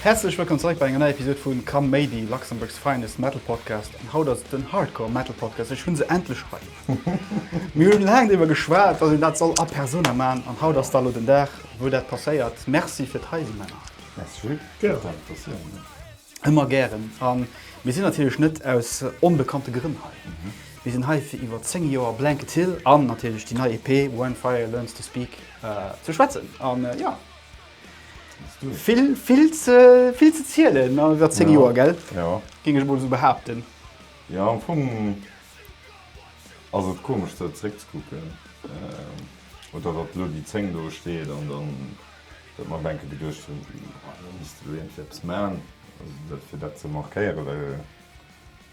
Häerzlech wëllkomm zeréck bei enger neier Episode vu Kaméidi, Luxembourg's finest metal podcast. An haut ass et den Hardcore Metal Podcast, ech hunn se endlech hei. Mir hunn laang driwwer geschwat, wat een dat soll a persona man an haut ass da lo den Dag wou dat passéiert. Merci fir d'Heisinn, Männer. Merci fir d'Invitatioun. Ëmmer gären. A mir sinn natierlech net aus onbekannte Grënn hei. Mir sinn hei fir iwwer 10 Joer Blanket Hill an natierlech déi nei EP When Fire Learns To Speak ze schwätzen. A jo, vill ze zielen an iwwer 10 Joer, gell? Jo. Géing ech emol esou behaapten. Jo, am Fong ass et komesch esou zeréckzekucken. Oder datt elo déi 10 do steet an dann. Huet mer denken geduecht hun do misst lo iergendwéi eppes maan fir dat ze markéieren well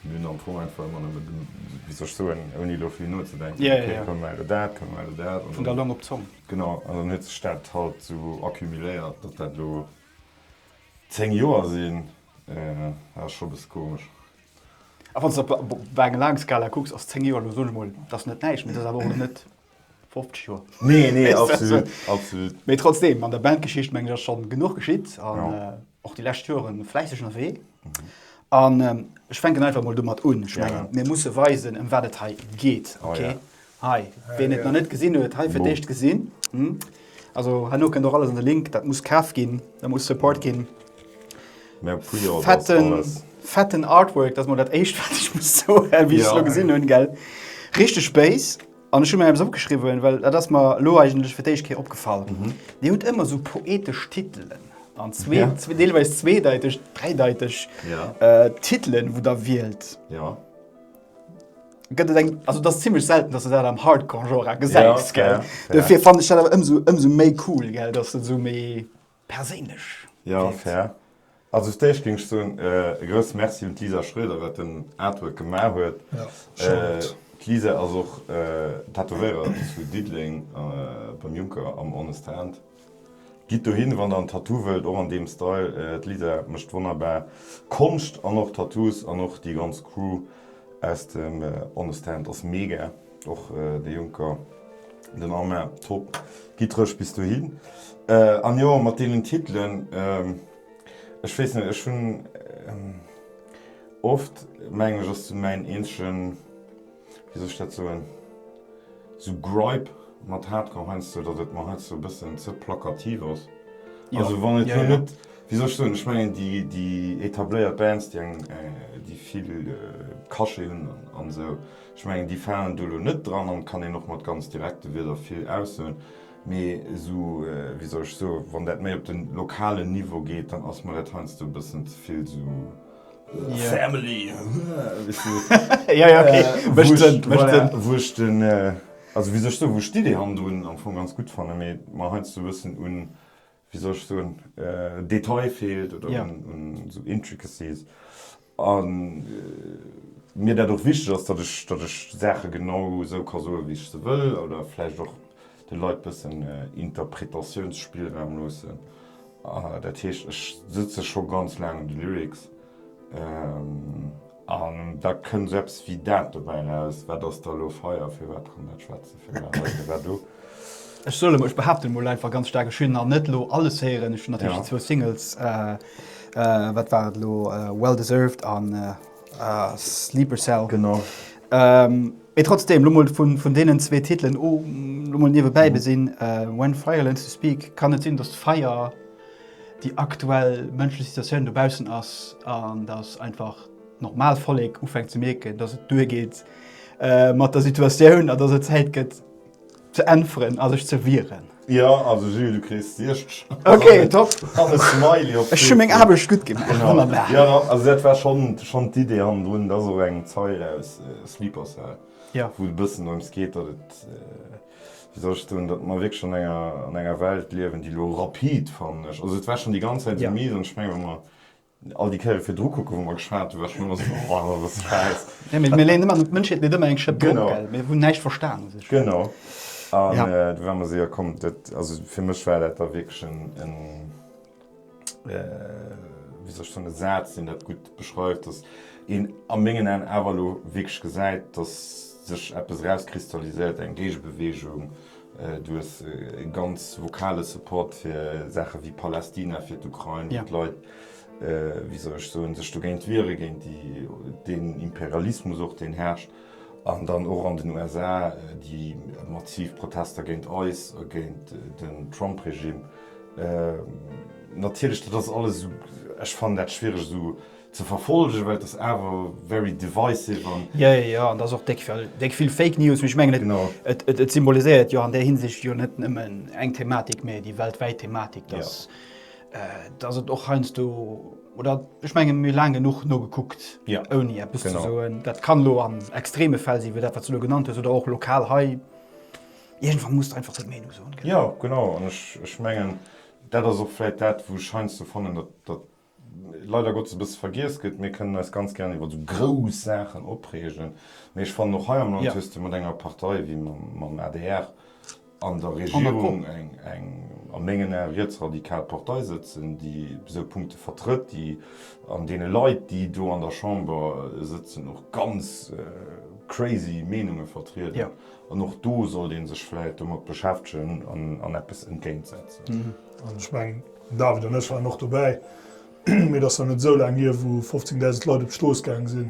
mir hun am Fong einfach emmer nemmen genuch, wéi soll ech soen, ouni lo vill nozedenken, ok da komme mer elo dat, komme mer elo dat an dann, genau, an dann huet sech dat halt sou accumuléiert datt dat lo 10 Joer sin, dat ass scho bësse komesch. A wanns de op enger laange Skala kucks ass 10 Joer lo, soen ech mol, dat ass net näischt, mee dat ass awer och net 50 Joer. Nee, nee, absolut, absolut. Mee trotzdem, an der Bandgeschicht, mengen ech, ass scho genuch geschitt an och déi lescht Joere fläisseg ënnerwee. An ech fänken einfach emol domat un. Ech mengen, mir musse weisen, ëm wat et hei geet. Okay? Hei, wien et nach net gesinn huet, hei fir d'éischt gesinn. Also herno kënnt och alles an de Link. Dat muss kaf ginn, dat muss support ginn. Fetten Artwork, dat ass mol dat Éischt, wat ech muss soen, wéi ech se elo gesinn hunn. Richteg Béis. An ech hu mir eppes opgeschriwwen, well dat ass mer elo eigentlech fir d'éischt Kéier opgefall. Dir hutt ëmmer esou poetesch Titelen an zwee, deelweis zweedeiteg, dräideiteg Titelen, wou Der wielt. Gëtt et eng, also et ass zimlech selten, dass Der dat am Hardcore-Genre gesäit, gell? Dofir fannen ech dat awer ëmsou méi cool, gell, dass Der esou méi. Perséinlech gewierkt. Ja, fair. Also fir d'éischt géing ech soen, e grousse Merci un d'Lisa Schroeder, wat den Artwork gemaach huet. D'Lisa ass och Tätowéirer zu Diddeleng beim Juncker am Honest Hand. Gitt dohin, wann der en Tattoo wëllt, och an deem Style. D'Lisa mécht wonnerbar Konscht an och Tattoos an och déi ganz Crew aus dem Honest Hand ass mega. Och de Juncker, den Armin, top! Gittreg bis dohin. An jo, mat deenen Titelen, ech weess net, ech hunn oft, mengen ech, ass sou mäin eenzegen, wéi soll ech dat soen, sou Gripe mat Hardcore heiansdo, datt et mer heiansdo e bëssen ze plakativ ass. Also wann et lo net, wéi soll ech soen, ech mengen déi etabléiert Bands, déi vill Cachet hunn an esou, Ech mengen déi falen do elo net dran an kann een och mat ganz direkte Wieder vill aussoen, mee esou, wéi soll ech soen, wann dat méi op de lokalen Niveau geet, dann ass mer dat heiansdo e bëssen ze vill esou family, weess du, voilà, wou ech den, also wéi soll ech soen, wou ech d'Idee hannendrun am Fong ganz gutt fannen, mee mer heiansdo e bëssen un wéi soll ech soen, Detail feelt oder un esou Intricacies a mir dat och wichteg ass, datt ech Saache genau esou ka soen, wéi ech se wëll oder vläicht och de Leit bëssen Interpretatiounsspillraum loossen. Dat heescht, ech sëtze scho ganz laang un de Lyrics. An da kënnt esou eppes wéi dat dobäi eraus. Wat ass da elo feier? Firwat kann dat schwätzen? Firwat hei? Firwat do? Ech soen emol, ech behaapten emol einfach ganz staark, ech hunn nach net elo alles héieren. Ech hunn natierlech déi zwou Singles, wat war et elo, Well Deserved a Sleeper Cell. Genau. Mee trotzdem, elo mol vun deenen zwee Titelen, elo mol niewebäi gesinn, When Fire Learns to Speak, kann et sinn, datt Feier déi aktuell mënschlech Situatioun dobaussen ass an datt einfach d'normal Vollek ufänkt ze mierken, datt et duer geet mat der Situatioun an datt et Zäit gëtt ze äntweren a sech ze wieren. Jo, also Jules, du kriss 60. Ok, top! Ech hu meng Aarbecht gutt gemaach. Wonnerbar! Jo, also dat war schonn d'Idee hannendrun. Et ass och eng Zeile aus Sleeper Cell, wou et e bëssen dorëms geet, datt et. Wéi soll ech soen, datt mer wierklech an enger, an enger Welt liewen, déi elo rapid, fannen ech, also et war schonn déi ganz Zäit esou mies an ech mengen, wa mer all déi Kéiere virdru kucken, wou mer geschwat hunn, war et schonn ëmmer esou, oh, dat ass Schäiss. Jo, mee mir leeën ëmmer, d'Mënschheet leet ëmmer eng Schëpp drop, gell, mir hunn näischt verstan u sech. Genau. An do war mer esou, jo komm, dat, also fir mech war dat da wierklech en, en. wéi soll ech soen, e Saz, deen dat gutt beschreift, datt een a mengen Aen awer elo wierklech gesäit, datt sech eppes erauskristalliséiert, eng Géigebeweegung duerch e ganz vokale Support fir Saache wéi Palästina, fir d'Ukrain, wou d'Leit, wéi soll ech soen, sech dogéint wiere, géint deen Imperialismus och, deen herrscht. An dann och an den USA déi massiv Protester géint eis a géint den Trump-Regime. Natierlech, dat ass alles esou, ech fannen dat schwiereg esou ze verfollegen, well et ass awer very divisive an. Jo, jo, jo, an et ass och déck vill, déck vill Fake News. Mee ech mengen, et, et, et symboliséiert jo an där Hinsicht jo net nëmmen eng Thematik, mee déi weltwäit Thematik, dass. dass et och heiansdo oder ech menge mir laang genuch nogekuckt ja. ouni Apps genau. zu soen. Dat kann lo an extreme Fäll si, dat wat ze lo genannt hues oder och lokal hei. Irgendwann muss einfach se Meinung soen. Genau. Ja genau an ech, ech mengen dat ass ochläit dat wo scheinst du fannen dat, dat leider Gott ze bis vergiers gëtt. Mir kënnen eis ganz gerne iwwer so grouss Saachen opregen. Mee ech fan och hei am Land ja. mat enger Partei wie mam ADR an der Regierung eng a mengen Ae rietsradikal Partei sëtzen, déi esou Punkte vertrëtt, déi an deene Leit, déi do an der Chamber sëtzen, och ganz crazy Meenunge vertrieden. An och do sollt ee sech vläicht domat beschäftegen an eppes entgéintsetzen. An ech mengen, den David an ech waren och dobäi, mee et ass nach net esou laang hier, wou 15.000 Leit op d'Strooss gaange sinn.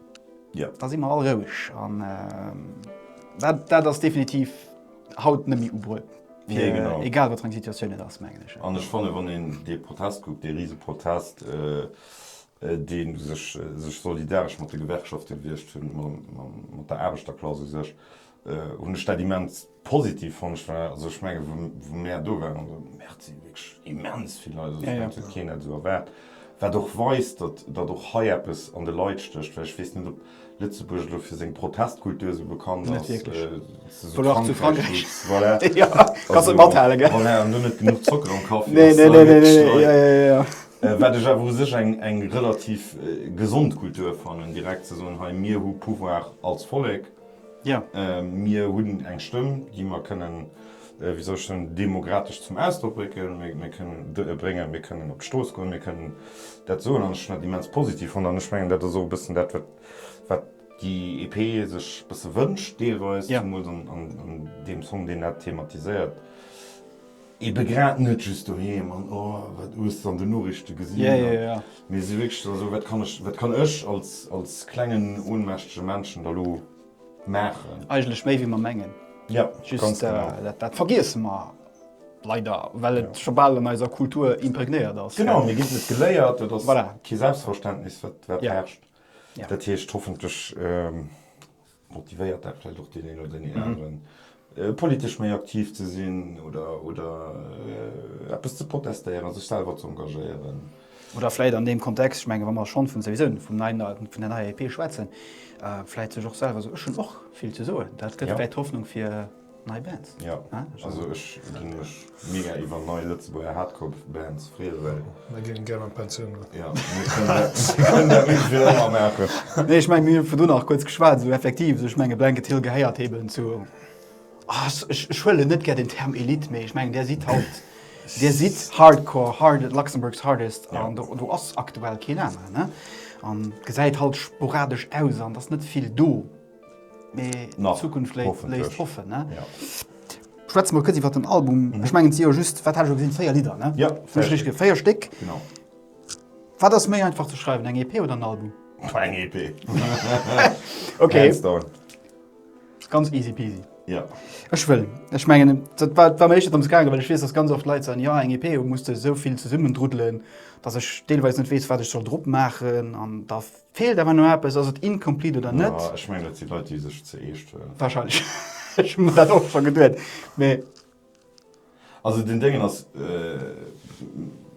Jo, da si mer all roueg. An dat ass definitiv haut net méi ubruecht, egal wat fir eng Situatioun et ass, mengen ech. An ech fanne wann een dee Protest kuckt, dee Riseprotest, dee sech solidaresch mat de Gewerkschafte gewiescht hunn, mat der Aarbechterklass u sech, hunn ech dat immens positiv fonnt. Ech war, also ech mengen, wou mär do waren, also Merci, wierklech immens vill Leit, also ech mengen, dat huet keen net esou erwaart, wat och weist, datt, datt och hei eppes an de Leit stécht, well ech weess net, ob Lëtzebuerg elo fir seng Protestkultur esou bekannt ass. Net wierklech. Oder och zu Frankräich. Voilà. Jo, kanns net mathalen, gell? Voilà, an hunn net genuch Zocker am Kaffi. Nee, nee, nee, nee, nee, jo, jo, jo, jo. Wat ech awer u sech eng, eng relativ gesond Kultur fannen, direkt ze soen, hei, mir hu Pouvoir als Vollek. Mir hunn eng Stëmm, déi mer kënnen, wéi soll ech soen, demokratesch zum Ausdrock brécken, mir kënnen bréngen, mir kënnen op d'Strooss goen, mir kënnen dat soen. An ech hunn dat immens positiv fonnt an ech mengen, dat ass och e bëssen dat, wat déi EP sech e bësse wënscht, deelweis, zemools an deem Song, deen dat thematiséiert. Eben grad net just doheem an oh wat hues de an den Noriichten gesinn, mee si wierklech dann esou, wat kann ech, wat kann ech als, als klengen ohnmächtege Männchen da lo maachen? Eigentlech méi wéi mer mengen. Jo, ganz genau. Just dat vergiesse mer leider, well et scho bal an eiser Kultur imprégnéiert ass. Genau, mir ginn et geléiert, et ass kee Selbstverständnis wat herrscht. Dat heescht hoffentlech Motivéiert dat vläicht och deen een oder déi anere politesch méi aktiv ze sinn oder eppes ze protestéieren, sech selwer ze engagéieren? Oder vläicht an deem Kontext, ech mengen, wa mer schonn vun souwisou vum neien, vun der neier EP schwätzen, vläicht sech och selwer esou, Ech hunn och vill ze soen. Dat gëtt vläicht Hoffnung fir Nei Bands? Ja, also ech gi mech mega iwwer nei Lëtzebuerger Hardcore-Bands freeë well. Mir ginn gär an d'Pensioun no. Ja, mir kënnen dat net fir ëmmer maachen. Nee, ech mengen, mir hunn virdrun nach kuerz geschwat, esou effektiv, esou, ech mengen, Blanket Hill gehéiert eben zu, ech huelen net gär den Term Elite, mee ech mengen, där sidd haut, där sidd Hardcore, hard, Luxembourg's hardest an do ass aktuell keen aneren. An gesäit halt sporadesch aus an et ass net vill do. Mee d'Zukunft léisst hoffen. Schwätze mol kuerz iwwer den Album. Ech mengen et si jo just, wat hat ech elo gesinn, véier Lidder? Véier Stéck. Wat ass méi einfach ze schreiwen, eng EP oder en Album? Eng EP. Ok. Ganz easy peasy. Jo. Ech wëll, ech mengen dat war war mir éischter drëms gaangen, well ech weess, datt ganz oft Leit soen, jo eng EP muss de esou vill zesummendruddelen, datt ech deelweis net weess, wat ech soll drop maachen an da Feelt awer no eppes, ass et incomplete oder net? Jo, ech mengen et si Leit déi sech ze eescht huelen. Wahrscheinlech, ech hu mir dat och scho geduet mee. Also den Déngen ass,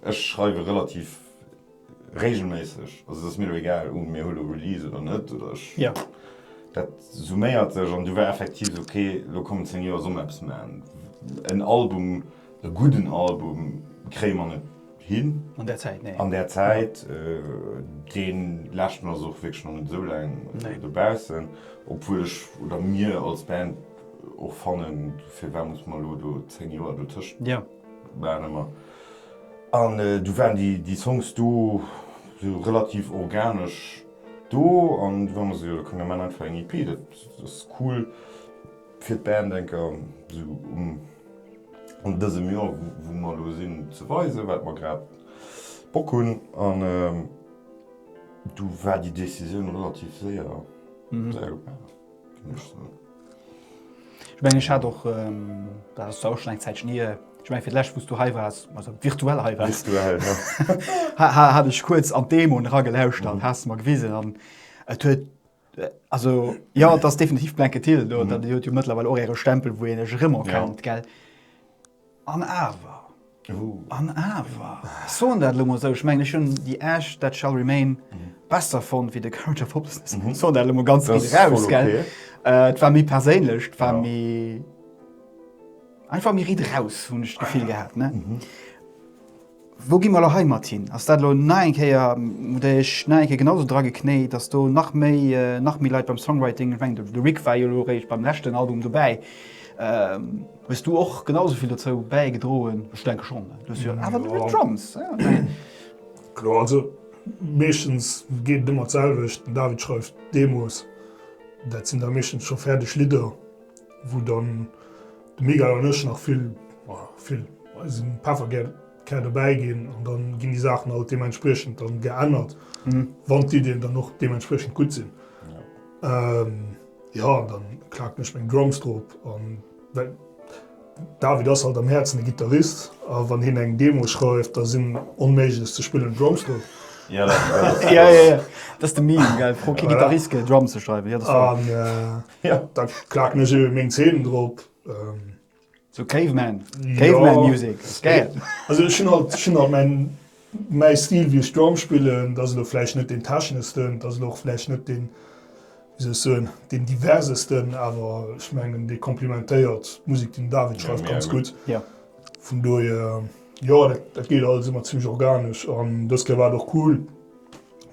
ech schreiwe relativ regelméisseg, also et ass mir elo egal un mir hu lo Release oder net oder ech, dat summéiert sech an du war effektiv esou okay lo kommen 10 Joer soll mer eppes man. En Album, e gudden Album kréie mer net. hin an der Zäit, nee, an der Zäit deen läscht mer ass och wierklech nach net esou laang dobaussen, obwuel ech oder mir als Band och fannen, firwat muss mer elo do 10 Joer dotëscht maachen ëmmer an du waren déi Songs do sou relativ organesch do an du war mer esou, jo da komme mer maachen einfach eng EP, dat ass cool. Fir d'Bedenker esou un dësem Joer, wou mer elo sinn, ze weisen, wat mer grad Bock hunn. An du war déi Decisioun relativ séier gefaangen, géing ech soen. Ech mengen, ech hat och, dat ass jo och schonn eng Zäitchen hier, ech mengen, fir d'lescht, wou s du hei waars, also virtuell hei waars, virtuell, jo, hat ech kuerz an d'Demo eragelauschert, has de mer gewisen an et huet Also jo, et ass definitiv Blankett Hill, do dat huet jo mëttlerweil och äre Stempel, wou een lech erëm erkennt, gell. An awer, an awer, ech soen dat elo emol esou, ech mengen, ech hunn The Ash that shall remain besser fonnt wéi The Courage of Hopelessness. Ech soen dat elo emol ganz riicht eraus, gell. Et war méi perséinlech, et war méi, einfach méi riicht eraus, hunn ech d'Gefill gehat, ne. Wou gi mer elo hei mat hin? Ass dat elo nach eng Kéier, déi ech nach eng Kéier genau esou dra geknéit, ass do nach méi nach méi Leit beim Songwriting? Ech mengen de Rick war jo elo eréischt beim leschten Album dobäi. Hues du och genau esou vill dozou bäigedroen? Ech denke schonn, du hues jo awer nëmmen Drums. Kloer, also meeschtens geet et ëmmer d'selwecht, den David schreift d'Demos, dat sinn da meeschtens scho fäerdeg Lidder. wou dann de Miguel an ech nach vill, vill, eise Pefferkär dobäi ginn an dann ginn déi Saachen alt deementspriechend dann geännert, wann d'Iddien dann och deementspriechend gutt sinn. Jo, an dann klaken ech meng Drums drop an well David ass halt am Häerzen e Gittarist a wann hien eng Demo schreift, da sinn onméiglech ze spillend Drums drop. Jo, dat ass de Meme, gell, pro kee Gittarist gëtt e Drum ze schreiwen, jo, dat ass wahr. Jo, da klaken ech eben meng Zeen drop. So Caveman, Caveman Music, gäil. Also ech hunn halt, ech hunn halt mäin, mäi Stil wéi ech Drum spillen. Dat ass elo vläicht net deen techneschsten, dat ass elo och vläicht net deen, wéi soll ech soen, deen diversesten, awer ech mengen dee komplimentéiert d'Musek déi den David schreift ganz gutt. Jo. Vun dohier, jo, dat geet alles ëmmer zimmlech organesch an dës Kéier war et och cool,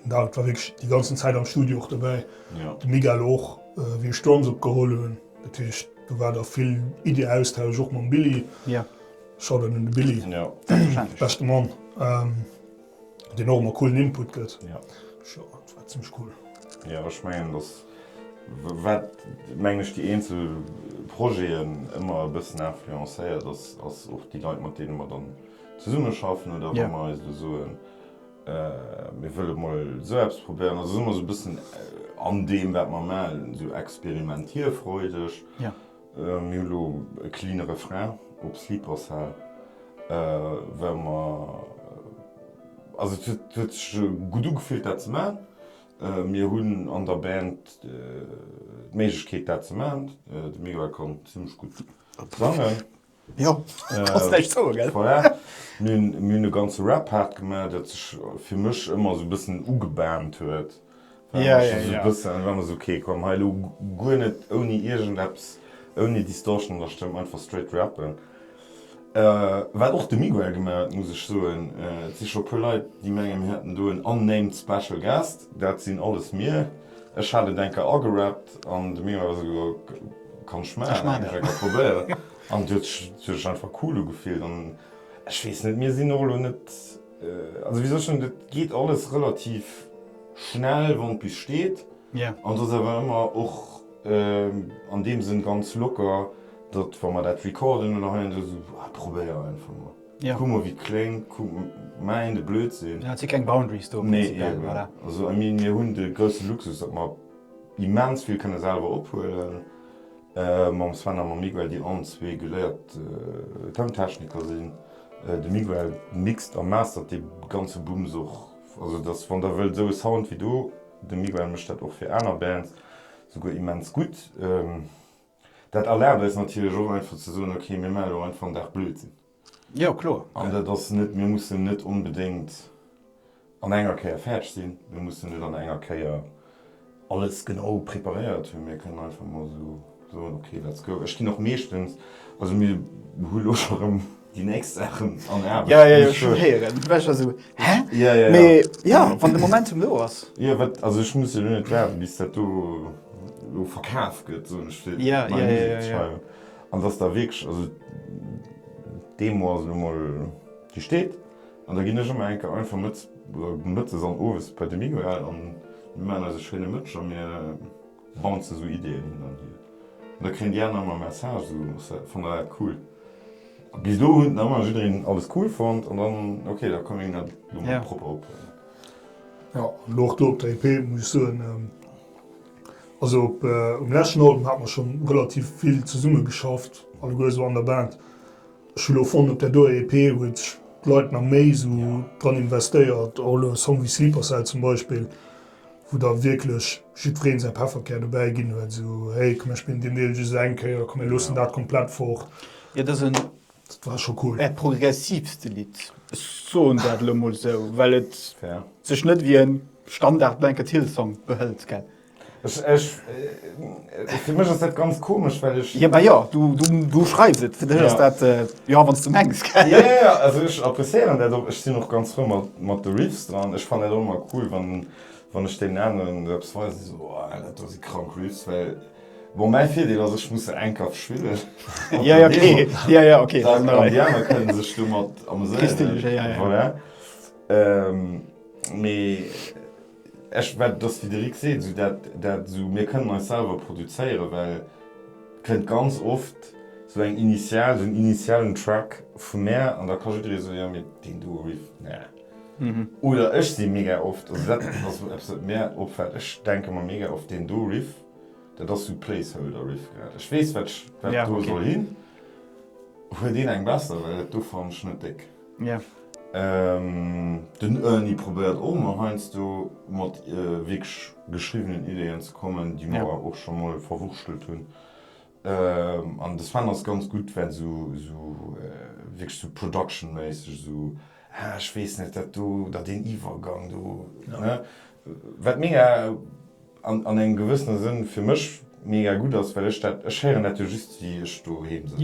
Den David war wierklech déi ganzen Zäit am Studio och dobäi, de Miguel och, wéi ech d'Drums opgeholl hunn. Dat heescht, do war da vill Iddi-Austausch och mam Billy. Shoutout un de Billy, beschte Mann, deen och ëmmer coolen Input gëtt. Jo, dat war zimmlech cool. Jo, ech mengen, dass, wat, mengen ech, déi eenzel Projeten ëmmer e bëssen influencéiert, ass och déi Leit, mat deene mer dann zesummeschaffen oder wa mer eis elo soen, Mir wëlle mol esou eppes probéieren, also si mer esou e bëssen an deem, wat mer malen, esou experimentierfreudeg. Mir hu lo e cleane Refrain op Sleeper Cell, well mer, also et huet sech gutt ugefillt, dat ze maachen. Mir hunn an der Band d'Méiglechkeet, dat ze maachen. De Miguel konnt zimmlech gutt sangen. Jo, kanns näischt soen, gell? Voilà. Mir hunn e ganze Rap-Part gemaach, dat sech fir mech ëmmer esou e bëssen ugebahnt huet. Ja, ja, ja. War mer sou, okay, komm, hei elo guer net ouni iergendeppes, ouni Distortion an der Stëmm, einfach straight rappen. Wat och de Miguel gemaach huet, muss ech soen. Et si scho e puer Leit, déi mengen, mir hätten do en unnamed special guest. Dat sinn alles mir. Ech hat en Denker agerappt an de Miguel war esou, Kann ech maachen, ech hun et probéiert an et huet sech einfach cool ugefillt an ech wees net, mir sin och elo net, also wéi soll ech soen, et geet alles relativ schnell wann d'Büs steet an et ass awer ëmmer och an deem Sënn ganz locker, datt wa mer dat recorden oder hei an do sou, ah probéier einfach mol, kuck mol wéi et kléngt, kuck, maach een de Blödsinn. Et si keng Boundaries do prinzipiell, voilà. Nee eben, also I mean mir hun de grousse Luxus datt mer, immens vill kënne selwer ophuelen mam Sven a mam Miguel, déi allen zwee geléiert Toun-Techniker sinn. De Miguel mixt a mastert dee ganze Bums och. Also et ass, wann der wëllt, esou e Sound wéi do. De Miguel mécht dat och fir aner Bands, souguer immens gutt. Dat erlaabt eis natierlech och einfach ze soen, ok, mir maache elo einfach en Dag Blödsinn. Jo, kloer. An dat ass net, mir mussen net onbedéngt an enger Kéier fäerdeg sinn, mir mussen net an enger Kéier alles genau preparéiert hunn. Mir kënnen einfach mol esou soen, okay, let's go. Ech ginn och meeschtens, also mir hu lo scho rëm déi nächst Saachen an Aarbecht. Jo, jo, jo, ech wëll héieren. Well ech war esou, hä? Ja, ja, ja. Mee jo, wann de Momentum do ass. Jo, wat, also ech muss jo lo net waarden, bis dat do elo verkaaft gëtt, soen ech fir meng Musek ze schreiwen. An dass da wierklech, also dee Mot ass elo mol gestet, an da ginn ech ëmmer eng Kéier einfach mëtt, oder mëttes an owes bei de Miguel an mir maachen eise schéine Mëtsch a mir bounce sou Ideeën hin an hier. An da kréien déi aner ëmmer Message, sou fannen der dat cool? A bis elo hunn ëmmer jiddereen alles cool fonnt an dann, ok, da koum een dat elo mol propper ophuelen. Jo, an elo och do op der EP muss ech soen, Also op um leschten Album hate mer schonn relativ vill zesumme geschafft, alleguer esou an der Band. Ech hu lo fonnt op där doer EP huet sech d'Leit nach méi esou dran investéiert, och elo e Song wéi Sleeper Cell zum Beispill, wou da wierklech jiddweree säi Pefferkär dobäi ginn huet, esou hey komm mir spillen deen Deel just eng Kéier, komm mir loossen dat komplett fort. Jo dësen Dat war scho cool. Äert progressivste Lidd, ech soen dat elo mol esou, well et sech net ewéi e Standard Blanket Hill Song behëlt, gell? Ech, ech, fir mech ass dat ganz komesch, well ech. Jo, ma jo, du, du, du schreifs et, fir dech ass dat, jo, wann s du mengs, gell? Jo, jo, also ech appréciéieren dat och, ech sinn och ganz frou mat, mat de Riffs dran. Ech fannen dat och ëmmer cool, wann, wann ech deenen aneren eppes weisen, déi soen, oh, dat do si krank Riffs, well. Bon, mäi Virdeel ass, ech muss se eng Kaf schwillen. Jo, jo, okay. Jo, jo, okay. Dann an déi aner kënne sech domat amuséieren. Kriss de lech, jo, jo, jo. Voilà. Mee ech, wat et ass, wéi de Rik seet, esou dat, dat esou, mir kënnen eis selwer produzéieren, well et kënnt ganz oft esou eng initial, esou en initialen Track vu mär an da ka jidderee soen, jo, mee deen do Riff, nää. Oder ech si mega oft, also dat ass eppes, wat mär opfält, ech denke mer mega oft, deen do Riff, Dat ass sou Placeholder Riff grad. Ech wees wat do soll hin. Huet een eng besser well dat do fannen ech net déck. Den Ernie probéiert och mol heiansdo mat wierklech geschriwwenen Ideen ze kommen déi mer och scho mol verwurschtelt hunn. An de Sven ass ganz gutt well esou esou wierklech esou Production méisseg esou ah ech weess net dat do oder deen Iwwergang do ne wat mega an an engem gewëssene Sënn fir mech mega gutt ass well ech dat ech héieren dat jo just wéi ech doheem sëtzen.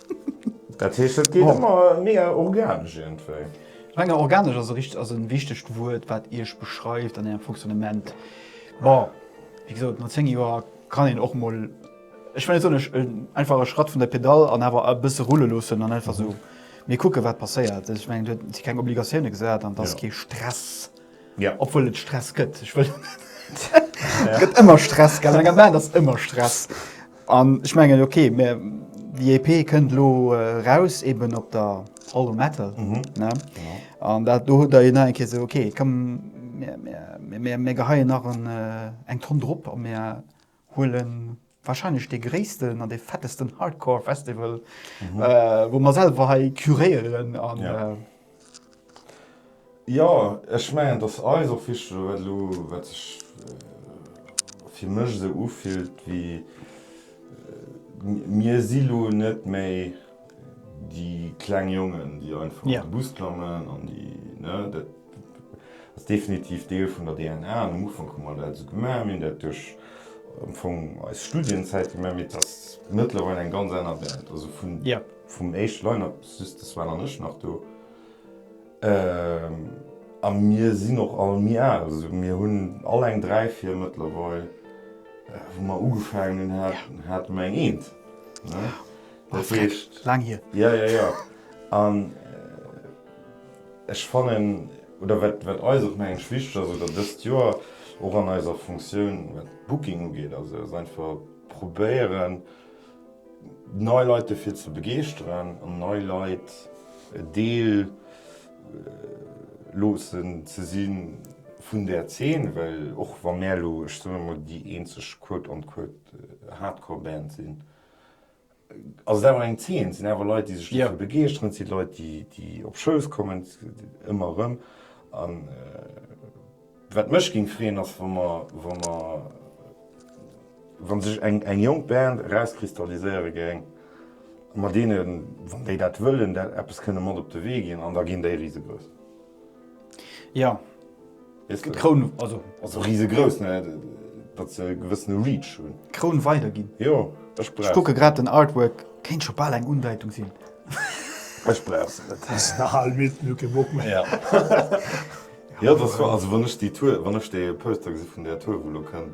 Dat heescht dat geet ëmmer mega organesch iergendwéi? Ech menge organesch ass e richtegt, ass e wichtegt Wuert wat Iech beschreift an Ärem Fonctionnement. Bon, wéi gesot no 10 Joer kann een och mol, ech well net soen, ech einfach e Schratt vun der Pedall an awer e bësse rulle loossen an einfach esou, mir kucke wat passéiert. Ech menge et si keng Obligatioune gesat an et ass kee Stress. Jo, obwuel et Stress gëtt. Ech wëll. Et gëtt ëmmer Stress, gell? An enger Band ass ëmmer Stress. An ech mengen, okay, mir, déi EP kënnt elo eraus, eben op der All Metal, ne? An dat do hutt Der jo nach eng Kéier esou, okay, komm, mir geheien nach en, eng Tonn drop a mir. huelen wahrscheinlech dee gréissten an dee fettesten Hardcore Festival wou mer selwer hei curéieren an. Jo ech mengen et ass eis och wichteg oder wat elo wat sech fir mech esou ufillt wéi mir si lo net méi déi kleng Jongen déi einfach an de Bus klammen an déi ne dat. Ass definitiv Deel vun der DNA an am Ufank hu mer dat esou gemaach. Mir hunn dat duerch am Fong eis Studienzäit gemaach, mee et ass mëttlerweil eng ganz aner Welt. Also vun vum éischte Line-Up, just de Sven an ech nach do, a mir sinn och all méi al. Also mir hunn all eng dräi, vir mëttlerweil. Wou mer ugefaangen hunn, hate mer eng eent, ne? Dat heescht. Laang hier. Jo, jo, jo. An. Ech fannen, oder wat eis och nach eng wichteg ass, oder dëst Joer och an eiser Funktioun, wat d'Booking ugeet, also ass einfach probéieren, nei Leit dofir ze begeeschteren an nei Leit e Deel loossen ze si vun där Zeen. Well och wa mär elo, ech soen emol, déi eenzeg quote-unquote Hardcore-Band sinn, Ass et awer eng Zeen, et sinn awer Leit, déi sech dofir begeeschteren, et si Leit, déi op Shows kommen, ëmmer erëm. A wat mech géing freeën, ass wa mer, wa mer, wa sech eng jonk Band erauskristalliséiere géing, mat deenen, wann déi dat wëllen, dat eppes kënne mat op de Wee ginn an da ginn déi risegrouss. Ja, d'Kroun, also. Ass och risegrouss, ne? Datt se e gewëssene Reach hunn. D'Kroun weiderginn. Jo, ech brauch se. Ech kucke grad den Artwork, kéint scho bal eng Undeitung sinn. Ech brauch se net. Ass nach al, midd, hunn kee Bock méi. Ja. Jo, dat ass wahr. Also wann ech déi Tour, wann ech dee Poster gesi vun där Tour, wou elo kënnt.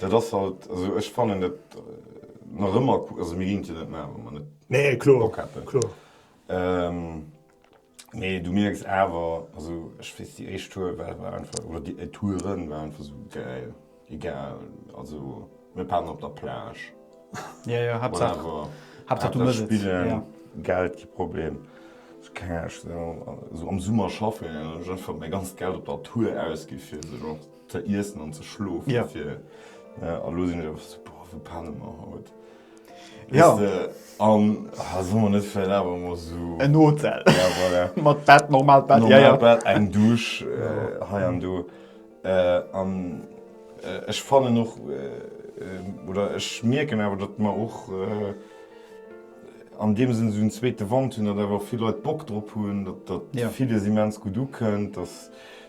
Dat ass halt esou. Ech fannen et nach ëmmer, also mir ginn et jo net maachen, wa mer net Bock hätten. Nee, kloer. Mee du mierks awer, also ech weess, déi éischt Tour war einfach, oder déi Touren waren einfach esou gäil. Egal, also mir paken op der Plage, whatever, Haaptsaach spillen, Geld kee Problem. Esou keng Ahnung, esou am Summer schaffen, ech einfach mäi ganzt Geld op der Tour ausginn fir esou. Ze iessen an ze schlofen fir. A lo sinn ech awer sou, boah, wou penne mer haut? Weess de? An solle mer net vläicht awer emol esou. En Hotel. Ja, voilà. Mat Bett, normalt Bett. Ja, ja. Normalt Bett, eng Douche hei an do. An ech fannen och, oder ech mierken awer, datt mer och an deem Sënn esou en zweete Wand hunn, datt awer och vill Leit Bock drop hunn, datt villes immens gutt ukënnt, datt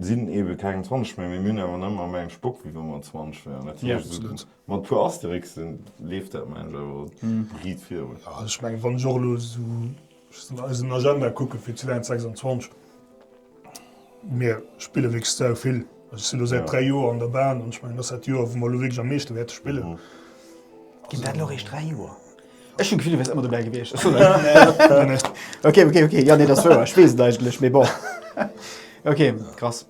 sinn eben keng 20 méi, mee mir hunn awer nëmmer méi eng Spock wéi wa mer 20 wären. Dat heescht esou mat e puer Asterixen leeft dat mengen ech awer riit virun. Jo, ech mengen, wann ech och elo esou eisen Agenda kucken fir 2026, mir spillen wierklech sau vill. Ech sinn elo säit 3 Joer an der Ban an ech mengen, dat ass dat Joer wou mer elo wierklech am meeschte wäerte spillen. Ginn dat elo eréischt 3 Joer? Ech hunn d'Gefill, du wäers ëmmer dobäi gewiescht. Okay, okay, okay, jo, nee, dat ass wouer. Ech weess et eigentlech, mee bon. Okay, krass.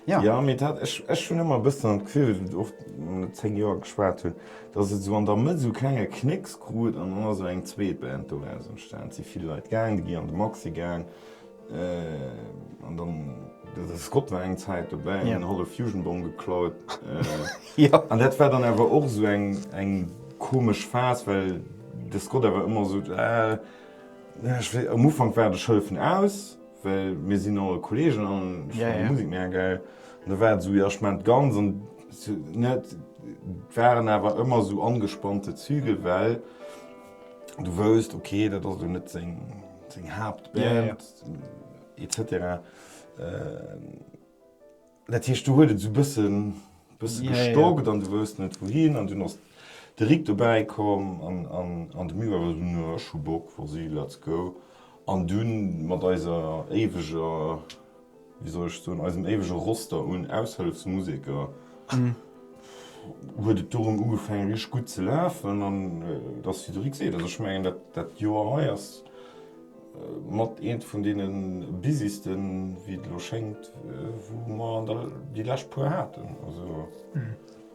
Ja. Ja, mee dat, ech, ech hunn ëmmer e bëssen dat Gefill, och wann et zéng Joer geschwat hunn, datt et esou an der Mëtt esou e klenge Knécks krut an dann ass esou eng zweet Band doraus entstan. Et si vill Leit gaangen, déi gi an de Maxi gaang. An dann de Scott war eng Zäit dobäi an huet e Fusion-Bong geklaut. An dat war dann awer och esou eng komesch Phas, well de Scott awer ëmmer esou, am Ufank war de Schëllefen aus, well mir sinn all Kolleegen an ech fannen d'Musek mega gäil. An da war et esou, jo ech maan d'Guns an net. Et waren awer ëmmer esou angespannte Zügel, well. du wousst ok dat ass net seng Haaptband etc. Dat heescht du huet et zu bëssen bësse gestockt an du wousst net wou hien an du ass de Rick dobäi komm an de Miwwel war dunn ech hu Bock, Fossil, let's go an dunn mat eiser éiweger wéi soll ech soen, eisem éiwege Roster un Aushëllefsmuseker, huet et dorëm ugefaangen, richteg gutt ze lafen. An et ass, wéi de Rik seet, also ech mengen, dat Joer hei ass mat eent vun deene busysten, wéi et elo schéngt, wou mer déi lescht puer haten.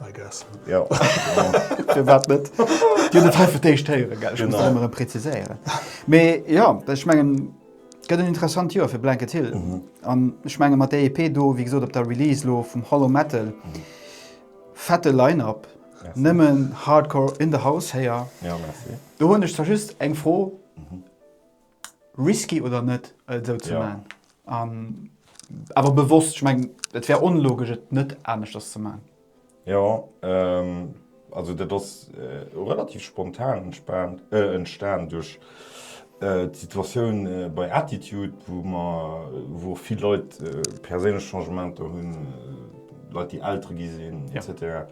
I guess. Jo. Firwat net? Dir hutt et hei fir d'éischt héieren, gell? Ech muss dat ëmmer erëm präziséieren. Mee jo, ech mengen, gëtt en interessant Joer fir Blanket Hill. An ech menge mat där EP do, wéi gesot, op der Release elo vum Hollow Metal, fette Line-Up, nëmmen Hardcore in the house héier. Do hunn ech zwar just eng Fro, risky oder net et esou ze man an awer bewosst ech meng et wär onlogesch et net aneschters ze man. Jo also dat ass relativ spontan entstan duerch d'Situatioun bei Attitude wou mer wou och vill Leit perséinlech Changementer hunn, Leit déi Eltere gi sinn etc.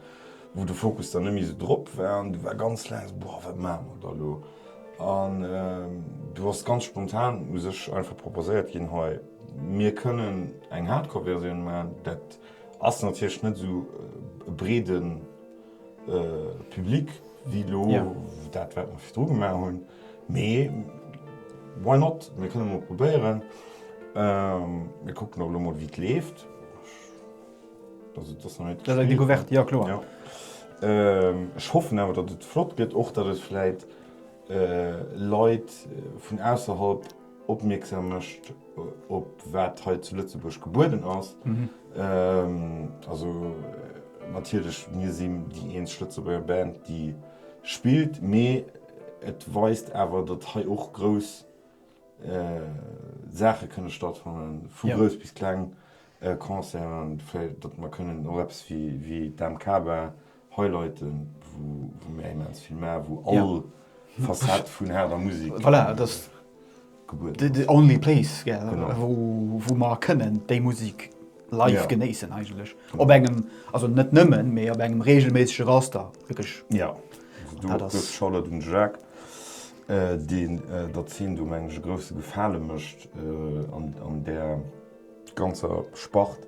wou de Fokus dann net méi esou drop war an du war ganz laang boah wat maache mer da lo an du ass ganz spontan u sech einfach proposéiert ginn hei mir kënnen eng Hardcore-Versioun maachen. Dat ass natierlech net esou e breede Public wéi lo dat wat mer virdru gemaach hunn, mee why not, mir kënne mol probéieren, mir kucken och lo mol wéi et leeft. Ech hoffen awer, datt et flott gëtt, och datt et vläit Leit vun ausserhalb opmierksam mécht, op wat hei zu Lëtzebuerg gebueden ass. Also natierlech, mir sinn déi eenzeg Lëtzebuerger Band, déi spillt, mee et weist awer, datt hei och grouss Saache kënne stattfannen, vu grouss bis kleng, Concert an vläicht datt mer kënnen och eppes wéi d'AMK-Bar highlighten, wou mir immens vill maachen, wou all Facette vun haarder Musek gebueden ass. Voilà, et ass the only place, wou mer kënnen déi Musek live genéissen eigentlech. Op engem, also net nëmmen, mee op engem reegelméissege Raster wierklech. Jo, do ass de Shoutout un de Jacques, deen der Zeen do, mengen ech, e grousse Gefale mécht an där. ganzer Spart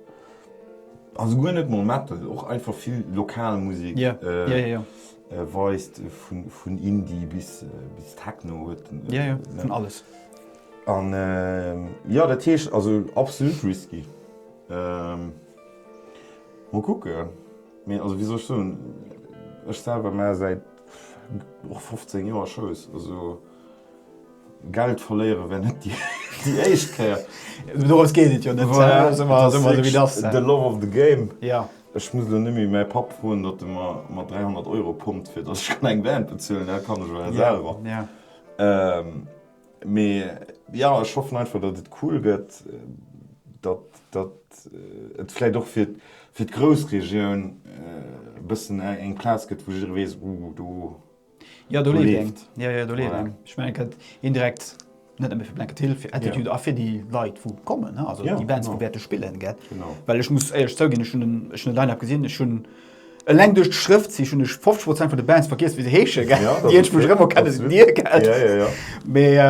also guer net mol Metal, och einfach vill lokal Musik weist vun Indie bis Techno huet vun alles an jo dat heescht also absolut risky mol kucke mee also wéi soll ech soen ech selwer maach säit och 15 Joer Shows also. Geld verléiere wär net déi éischt Kéier. Doraus geet et jo net. The love of the game. Ech muss elo net méi mäi Papp froen, datt e mer mat 300 Euro pompt, fir datt ech kann eng Band bezuelen. Dat kann ech jo elo selwer. Mee jo, ech hoffen einfach, datt et cool gëtt, datt et vläicht och fir d'Groussregioun e bëssen eng Plaz gëtt, wou jidderee weess, Ooh, do Ja do leeft eng. Jo jo do leeft eng. Ech mengen et kënnt een direkt net nëmme fir Blanket Hill, fir Attitude a fir déi Leit wou kommen ne, also déi Bands wou wäerte spillen gell. Well ech muss éierlech zouginn, ech hunn den, ech hunn de Line-Up gesinn, ech hunn eleng duerch d'Schrëft si hunn ech 50 Prozent vun de Bands vergiess wéi se heesche gell, déi ech mech erëm erkenne sinn dir gell. Mee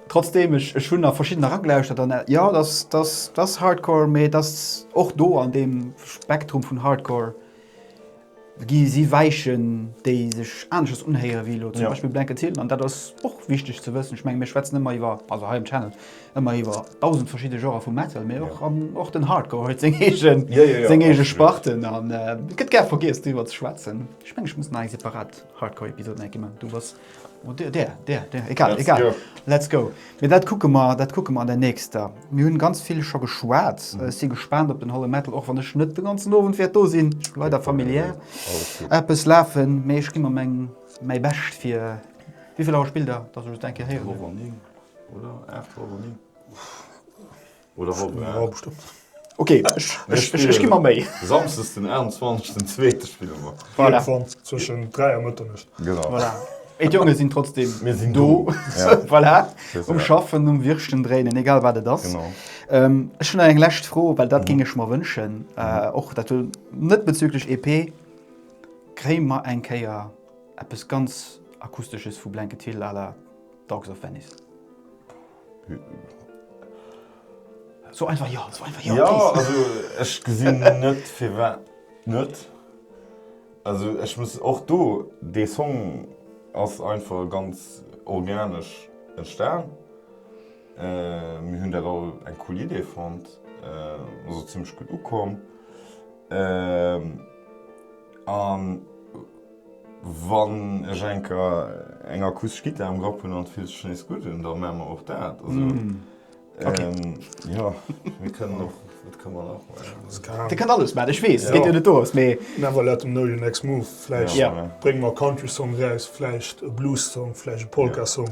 trotzdeem, ech ech hunn nach verschidden eragelauschert an jo et ass, et ass, et ass Hardcore, mee et ass och do an deem Spektrum vun Hardcore gi si Weichen, déi sech aneschters unhéieren, wéi elo zum Beispill Blanket Hill. An dat ass och wichteg ze wëssen. Ech mengen, mir schwätzen ëmmer iwwer, also hei um Channel, ëmmer iwwer dausend verschidde Genrë vu Metal, mee och, och den Hardcore huet seng eegen, seng eege Sparte. An et gëtt gär vergiess, driwwer ze schwätzen. Ech mengen, ech muss nach eng separat Hardcore-Episod, Nike, man. Du bass. Där, där, där, egal, Let's egal. Go. Let's go. Mee dat kucke mer, dat kucke mer an der nächster. Mir hunn ganz vill scho geschwat. Mhm. Ech si gespaant op den Holle Metal, och wann ech net de ganzen Owend wäert do sinn. Ech hu leider familiär eppes lafen, mee ech gi mer meng, mäi Bescht fir. Wéi vill Auer spillt Der, dass ech et eng Kéier héieren? Uecht Auer ower 9, oder? Uecht Auer ower 9. Oder Woch, Stunn, eng ja. halb Stonn. Ok, ech, Mir ech, ech, ech gi spillen mat méi. samsdes den 21 den zweete spille mer. Voilà. Irgendwann zwëschen 3 a Mëtternuecht. Genau. Voilà. Mee d'Jonge sinn trotzdem Mir sinn do. do. Ja. Voilà. C'est Um ça. Schaffen, um Wirschten dréinen, egal wat et ass. Genau. Ähm, ech hunn nach eng lescht Fro, well dat géing ech mer wënschen. Äh, och dat hunn, net bezüglech EP, kréie mer eng Kéier eppes ganz Akustesches vu Blanket Hill à la Dogs of Venice? So einfach jo, so einfach jo. Jo, also ech gesinn net firwat net. Also ech muss och do, dee Song ass einfach ganz organesch entstan. Mir hunn dat all eng cool Idee fonnt, ass och zimmlech gutt ukomm an. Wann ech eng Kéier eng akustesch Gittar am Grapp hunn an et fillt sech nees gutt un, da maache mer och dat. Jo, mir kënnen och. Dat kënne mer och maachen. Dir kënnt alles maachen, ech weess, et geet jo net do eraus, mee. Never let them know your next move. Vläicht brénge mer e Country-Song eraus, vläicht e Blues-Song, vläicht e Polka-Song.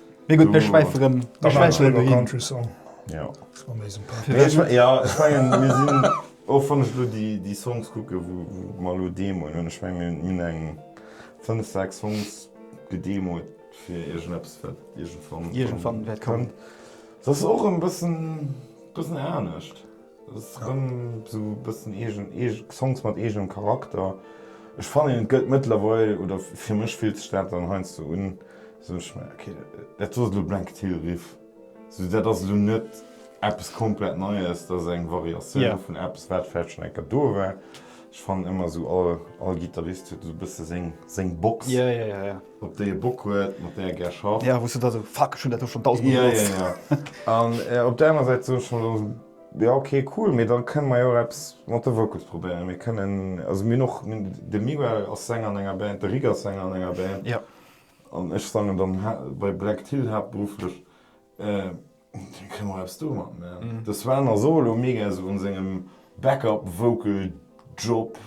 Mee gutt, mir schwäife rëm mir schwäife rëm dohin. Och wann ech elo déi Songs kucken, wou mer elo deemoen hunn, ech menge mir hunn eng fënnef, sechs Songs gedeemoet fir iergendeppes, wat iergendwann kommt. Iergendwann wäert kommen. Ass och e bëssen anescht. Ass rëm sou e bëssen eegen, eege Songs mat eegenem Charakter. Ech fannen et gëllt mëttlerweil, oder fir mech fillt sech dat dann heiansdo un, sou ech mer ok, dat do ass elo Blanket Hill Riff, sou dat ass elo net eppes komplett Neies, dat ass eng Variatioun vun eppes wat vläicht schonn eng Kéier do war. Ech fannen ëmmer sou all, all Gittarist huet esou e bësse seng, seng Box. op déi e Bock huet, mat där e gär schafft. Ja, wou s du da esou, Fuck, ech hunn dat do schonn dausend Mol benotzt. Ja, ja, ja. An op där aner Säit soe ech dann, Ja, okay, cool, mee da kënne mer jo och eppes mat de Vocals probéieren. Mir kënnen, also mir hunn och, de Miguel ass Sänger an enger Band, de Rik ass Sänger an enger Band. Ja. An ech sangen dann bei Black Till haaptberufflech. Wéi kënne mer eppes domat man? De Sven ass och elo mega sou an sengem Backup Vocal Job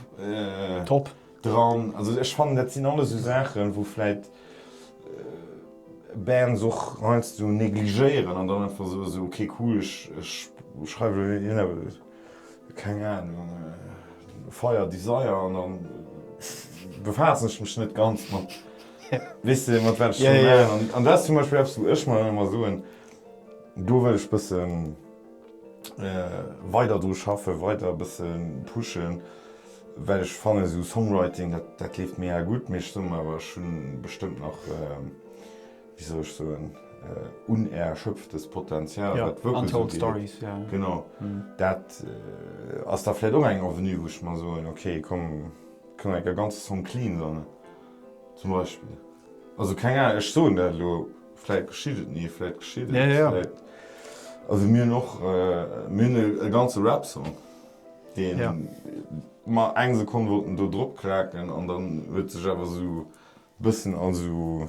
dran. Also ech fannen dat sinn alles sou Saachen wou vläit Bands och heiansdo negligéieren an dann einfach soe sou ok cool ech schreiwen elo net hien awer keng Ahnung Fire Desire an dann befaassen ech mech net ganz mat Weess de mat wat ech dru maachen? An dat ass zum Beispill eppes wou ech mer dann ëmmer soen, do wëll ech bësse weider dru schaffen, weider e bësse pushen, well ech fannen esou Songwriting, dat leeft mega gutt, mee ech soe mer awer, ech hunn bestëmmt nach, wéi soll ech soen, unerschöpftes Potenzial wat d'Vocals ugeet. Genau. Dat ass da vläicht och eng Avenue wou ech mer soen, okay komm, kënn mer enk e ganze Song clean sonnen. Zum Beispill. Also keng Ahnung, ech soen dat elo, vläit geschitt et ni, vläit geschitt et. Ja, ja. Also mir hunn och, mir hunn e ganze Rap-Song, dee mer eng Sekonn wollten do dropklaken an dann huet sech awer esou e bëssen a esou.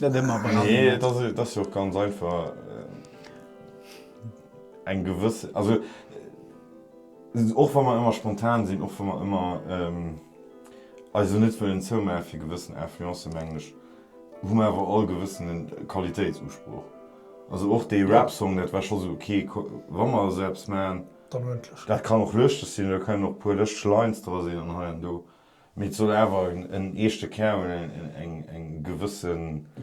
Net ëmmer bei allen Leit. Nee, et ass jo och ganz einfach eng gewëss, also och wa mer ëmmer spontan sinn, och wa mer ëmmer eis esou net wëllen zoumaachen fir gewëssen Influencen, mengen ech, hu mer awer all e gewëssene Qualitéitsusproch. Also och dee Rap-Song, dat war scho esou, ok, wa mer esou eppes maachen, dat kann och lëschteg sinn, da kënnen och e puer lëschteg Lines dra sinn an hei an do, Mee et soll awer en eeschte Kär hunn, eng gewësse.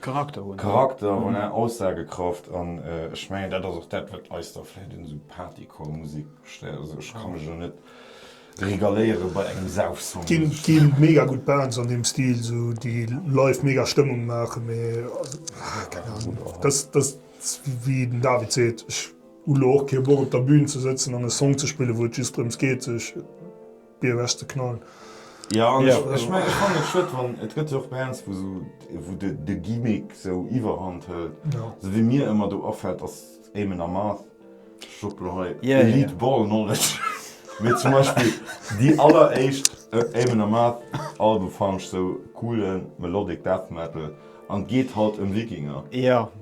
Charakter hunn. Charakter, voilà, Aussagekraft. An ech mengen, dat ass och dat, wat eis da vläicht un esou Partycore-Musek stéiert. Also ech ka mech elo net regaléiere bei engem Saufsong, muss ech soen. Ginn mega gutt Bands an deem Stil, esou déi live mega Stëmmung maachen, mee keng Ahnung. Dat ass wéi den David seet, ech hu elo och kee Bock op der Bühn ze sëtzen an e Song ze spillen, wou et just drëms geet, sech. BOS de Knoll. Jo, an ech mengen, ech fannen et schued, wann, et gëtt jo och bei enns, wou sou, wou de, de Gimmick sou iwwerhand hëlt, sou wéi mir ëmmer do afällt, ass Eamon Amarth, ech droppe lo hei e lead ball knowledge, mee zum Beispill déi alleréischt Eamon Amarth Alben fannen ech sou coolen melodic death metal, an et geet halt ëm Wikinger,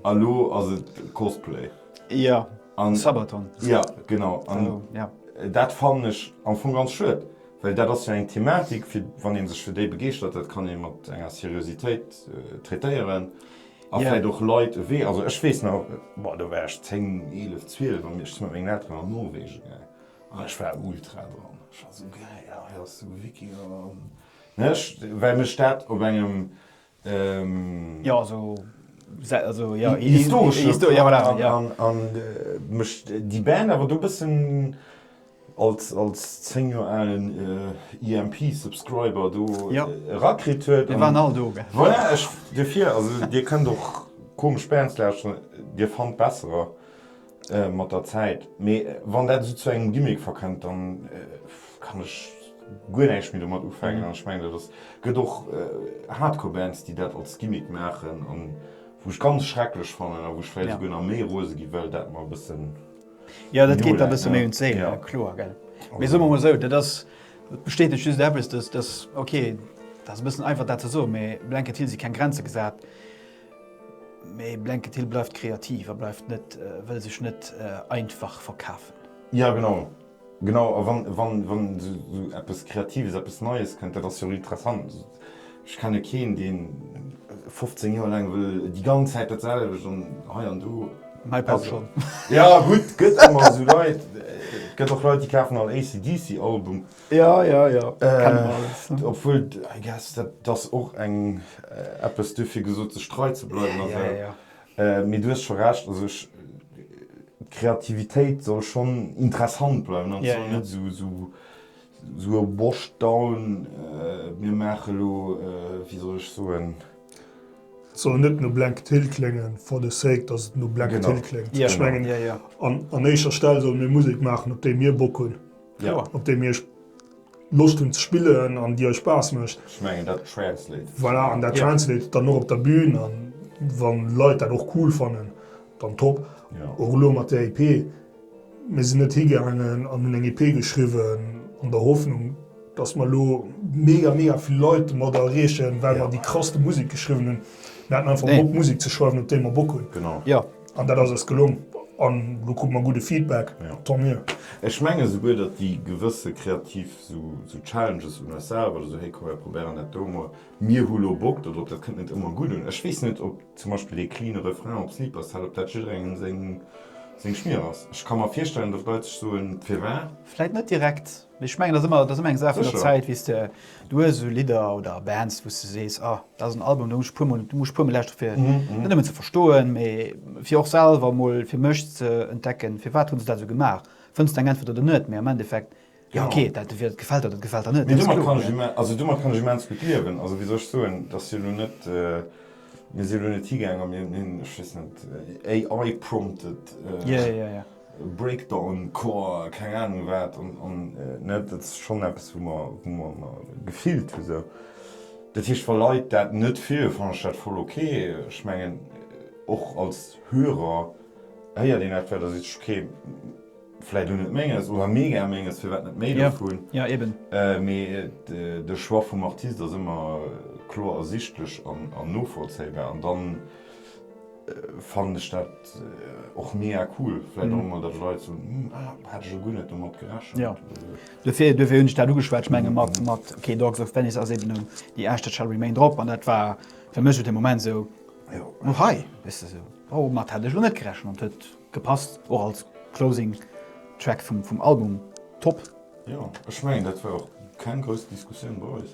a lo ass et Cosplay. Jo, an Sabaton. Jo, genau. An dat fannen ech am Fong ganz schued, well dat ass jo eng Thematik, fir wann ee sech fir déi begeeschtert, dat kann ee mat enger Seriositéit traitéieren a vläicht och Leit ewee. Also ech weess nach, boah, do war ech 10, 11, 12 an ech si mat mengen Elteren an Norwegen gaangen an ech war ultra dran. Ech war esou, Gäil, hei ass de Wikinger! Ech, well mech dat op engem Jo, also historesche an mécht déi Band awer do bëssen als 10 Joer alen EMP Subscriber do erakritt huet. Mir waren all do. Voilà, dofir, also Dir kënnt och komesch Bands lauschteren, Dir fannt besserer. mat der Zäit, mee wann dat esou zu engem Gimmick verkënnt, dann kann ech guer näischt méi domat ufänken. An ech mengen, et ass, gëtt och Hardcore-Bands, déi dat als Gimmick maachen, an wou ech ganz schrecklech fannen, a wou ech vläicht esouguer nach méi rose gi well dat mer e bëssen noläit. Jo, dat geet der e bësse méi un d'Séil, kloer, gell. Mee soe mer emol esou, dat ass, dat bestätegt just eppes, dass, dass, ok, dat ass e bëssen einfach dat ze soen, mee Blanket Hill si keng Grenze gesat. Mee Blanket Hill bleift kreativ a bleift net, wëll sech net einfach verkafen. Jo genau, genau a wann esou eppes Kreatives, eppes Neies kënnt, dat ass jo interessant. Ech kenne keen deen 15 Joer laang wëll déi ganz Zäit dat selwecht an hei an do. Mäi Papp schonn. Jo gutt, gëtt ëmmer esou Leit, gëtt och Leit déi kafen all AC/DC Album. Ja, ja, ja, kennen mer alles, ne. Obwuel, I guess, dat ass och eng, eppes, duerfir gesot, sech trei ze bleiwen a sou. Ja, ja, ja. Mee du hues scho Recht, also ech, d'Kreativitéit soll schonn interessant bleiwen an soll net sou, sou, sou washed down, mir maache lo, wéi soll ech soen? Et soll net no Blank Till kléngen for the sake, dass et no Blank Till kléngt. Ech mengen, an éischer Stell solle mir Musek maachen, op déi mir Bock hunn. Kloer. Op deem Iech Loscht hunn ze spillen an déi Iech Spaass mécht. Ech mengen dat translate. Voilà, an dat translate dann och op der Bün an wann Leit dat och cool fannen, dann top. Och elo mat där EP, mir sinn net higaangen an hunn eng EP geschriwwen an der Hoffnung, dass mer elo mega, mega vill Leit domat erreechen, well mer déi krasste Musek geschriwwen hunn. Mir haten einfach Bock Musek ze schreiwen, op déi mer Bock hunn. Genau. An dat ass eis gelong an elo kru mer gudde Feedback, tant mieux. Ech menge souguer, datt déi gewësse kreativ esou Challenges un eis selwer, oder esou, hey, komm mir probéieren dat do emol, mir hu lo Bock do drop, dat kënnt net ëmmer gutt un. Ech weess net, ob zum Beispill ee cleane Refrain op Sleepers Cell, ob dat jidderengem seng Schmier ass. Ech ka mer virstellen, datt Leit sech soen, firwat? Vläit net direkt. Mee ech mengen, dat ass ëmmer, dat ass ëmmer eng Saach vun der Zäit, wéi s de, du hues esou Lidder oder Bands, wou s de sees, ah, dat ass en Album, do muss ech puer mol, do muss ech puer mol lauschteren, fir en net nëmmen ze verstoen, mee fir och selwer mol fir mech ze entdecken, firwat hunn se dat esou gemaach. Fënns de eng Äntwert oder net, mee am Endeffekt, jo ok, dat entweder et gefält der oder et gefält der net, dat ass kloer. Mee domat kann ech imme-, also domat kann ech immens gutt liewen. Also wéi soll ech soen, et ass jo elo net, mir si jo elo net higaang a mir hunn, ech weess net, AI prompted. Yeah, yeah, yeah. Breakdown Core, keng Ahnung wat an net, dat ass schonn eppes wou mer gefillt hu sou. Dat heescht wa Leit dat net feieren, fannen ech dat voll ok. Ech mengen och als Hörer héiert een etwat a seet sech ok, vläit lo net menges oder mega menges, firwat net méi dovun. Mee de Choix vum Artist ass ëmmer kloer ersichtlech an novollzéibar an dann fannen ech dat och mega cool, vläit och emol, datt ech Leit soen, hm, ah, hat ech elo guer net domat gerechent. Jo, duerfir, duerfir hunn ech dat ugeschwat. Ech menge mat, mat Okay Dogs of Venice ass eben déi Aescht That Shall Remain drop an dat war fir mech esou de Moment esou, oh hei, weess de, esou, oh, domat hat ech elo net gerechent an et huet gepasst och als Closing Track vum, vum Album. Top! Jo, ech mengen dat war och keng grouss Diskussioun bei eis.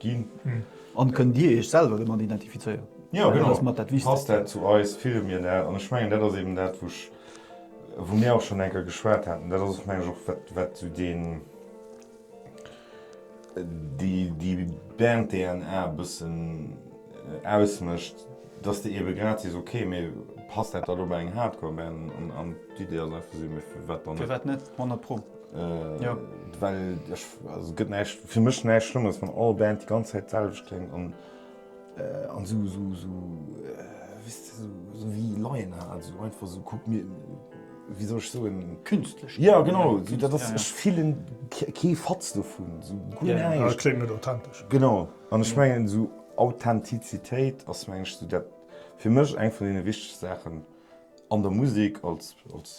Ginn. An kënnt Dir Iech selwer domat identifizéieren? Jo, genau. Passt dat zu eis? Fille mir dat? An ech mengen, dat ass eben dat, wou ech, wou mir och schonn eng Kéier geschwat haten, dat ass och, mengen ech, och wat, wat esou deen, déi, déi Band-DNA e bëssen ausmécht, dass de ebe grad sees, ok, mee passt dat da lo bei eng Hardcore-Band? An d'Idee ass einfach esou, mee firwat dann net? Firwat net, honnertpro. Jo. Well ech, also et gëtt näischt, fir mech näischt Schlëmmeres, wann all Band déi ganz Zäit d'selwecht kléngt an an esou, esou, esou, wéist de, esou, esou wéi Laien hat, esou einfach esou, kuck mir, wéi soll ech soen? Künstlech. Jo, genau, esou dat ass, ech fillen kee Fatz dovun, esou guer näischt. Jo, jo, et kléngt net authentesch. Genau, an ech mengen esou Authentizitéit ass, mengen ech, esou dat, fir mech eng vun deene wichtegste Saachen an der Musek als, als.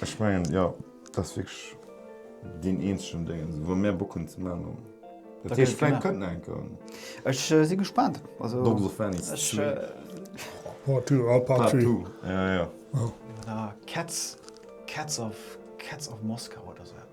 Ech mengen jo, dat ass wierklech deen eenzegen Déngens, wou mär Bock hunn ze maachen. Dat heescht, vläicht kënnt nach eng Corona. Ech si gespaant. Dogs of Venice 2. Part two, oh part three. Part two, ja, ja. Oder Cats, Cats of, Cats of Moscow oder esou eppes.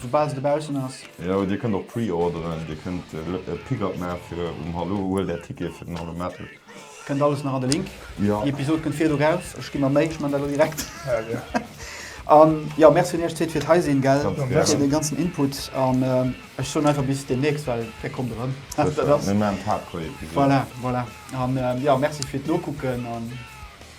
Soubal se dobaussen ass. Jo dir kënnt och preorderen, dir kënnt e Pickup maache fir um Hallo, huelt är Ticket fir den Hallo Metal. Kënnt alles nach an de Link. Jo. Déi Episod kënnt virdu raus, ech gi mer Méi, ech man dat elo direkt. Hell yeah. An jo, Merci un iech Zéit firt hei sinn, gell? Ganz gären. Fir den ganzen Input an ech soen einfach bis demnächst, well där kommt erëm. Sécher, mir man d'Hardcore Episod. Voilà, voilà. An jo, Merci firt Nokucken an.